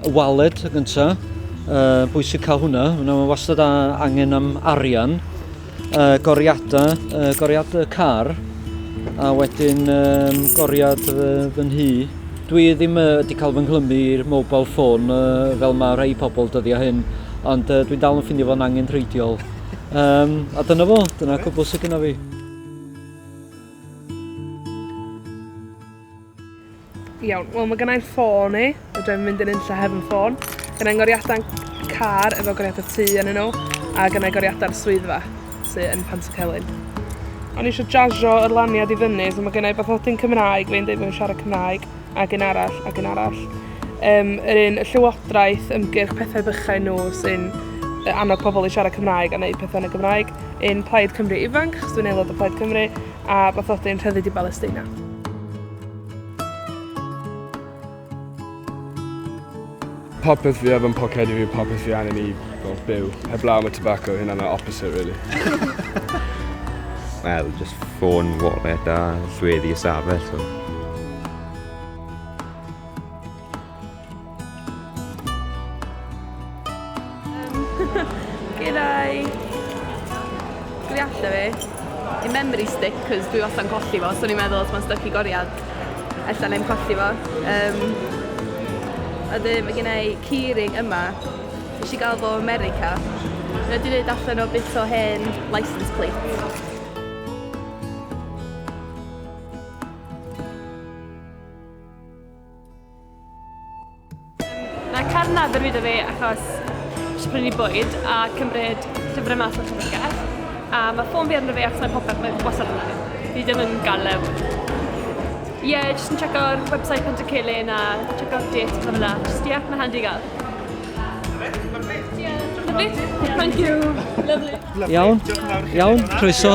y waled y gyntaf, uh, bwysig cael hwnna, hwnna mae wastad a, angen am arian, uh, goriadau, uh, goriadau car, a wedyn um, goriad fy, fy nhŷ. Dwi ddim wedi uh, cael fy nghlymu i'r mobile phone uh, fel mae rhai pobl dyddiau hyn, ond uh, dwi'n dal yn ffindio fo'n angen rheidiol. Um, a dyna fo, dyna cwbl sydd gyda fi. Iawn, wel mae gennau'n ffôn i, a dwi'n mynd yn unlla hefyd yn ffôn. Gennau'n goriadau'n car efo goriadau tu yn nhw, a gennau goriadau'r swyddfa sydd yn Pantycelyn. O'n i eisiau jazio yr laniad i fyny, so mae gennau beth nodi'n Cymraeg, fe'n dweud bod yn siarad Cymraeg. ac un arall, ac un arall. Um, yr un y llywodraeth ymgyrch pethau bychain nhw sy'n annog pobl i siarad Cymraeg a wneud pethau yn y Gymraeg, un Plaid Cymru ifanc, chos dwi'n aelod o Plaid Cymru, a bathodyn rhyddid i Balesteina. Popeth fi efo yn poced i fi, popeth fi angen i fel, byw. Heblaw am y tobacco, hynna'n y opposite, really. Wel, just ffôn, wallet a llweddi y safell. So. G'day! Dwi allan fi. I memory stick cos dwi wasta'n colli fo, so o'n i'n meddwl os ma'n styc i goriad, ella nai'm colli fo. Yym, a dyn mae gen i keyring yma, nes i gael fo o America. Mae o wedi wneud allan o bit o hen licence plate. Mae Cefn Nadr fi da fi achos eisiau prynu bwyd a cymryd llyfrau mas o'r llyfrgell. A mae ffôn fi arno fi achos mae popeth mae'n gwasad arno fi. Fi ddim yn gael lew. Ie, yeah, jyst yn check o'r website pan ti'n celyn a check o'r dates a fel yna. Jyst ie, mae'n handi gael. Lovely. Thank you. Lovely. Iawn. Iawn. Croeso.